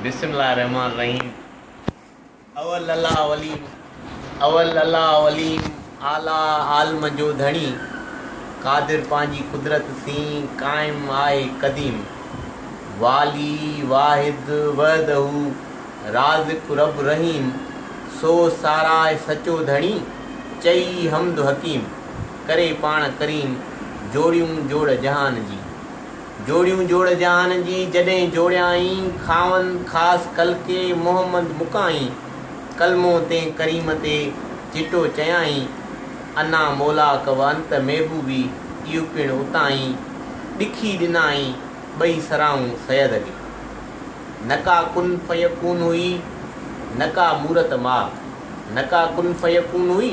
بسم الله الرحمن الرحيم اول الله اولين اول الله اولين اعليٰ عالم جو ڌڻي قادر پنهنجي قدرت سين قائم آهي قديم والي واحد وحده رازق رب رحيم سو ساراء سچو ڌڻي چئي حمد حڪيم ڪري پاڻ ڪريم جوڙيون جوڙ جهان جي جوڙيون جوڙ جهان جي جڏهن جوڙيائين، خاون خاص خلقي محمد مڪائين، ڪلمو تنهن ڪريم تي چٽو چيائين، انا مولاڪ و انت محبوبي اهو پڻ اتائين، ڏکي ڏنائين ٻئي سرائون سيد علي. نه ڪا ڪن فيڪون هئي نه ڪا مورت ماء، نه ڪا ڪن فيڪون هئي.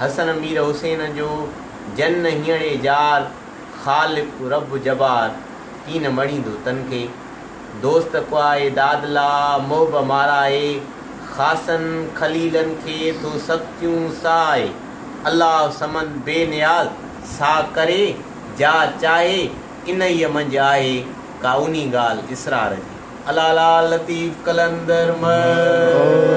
حسن مير حسين جو جن هيڻي جار خالق رب جبار ڪين مڙيندو تن کي دوست ڪوائي داد لا محب مارائي خاصن خليلن کي ٿو سختيون سهائي الله صمد بي نياز سا ڪري جا چاهي انهيء منجهه آهي ڪا اونهي ڳالهه اسرار جي الله لا لطيف قلندر مهر.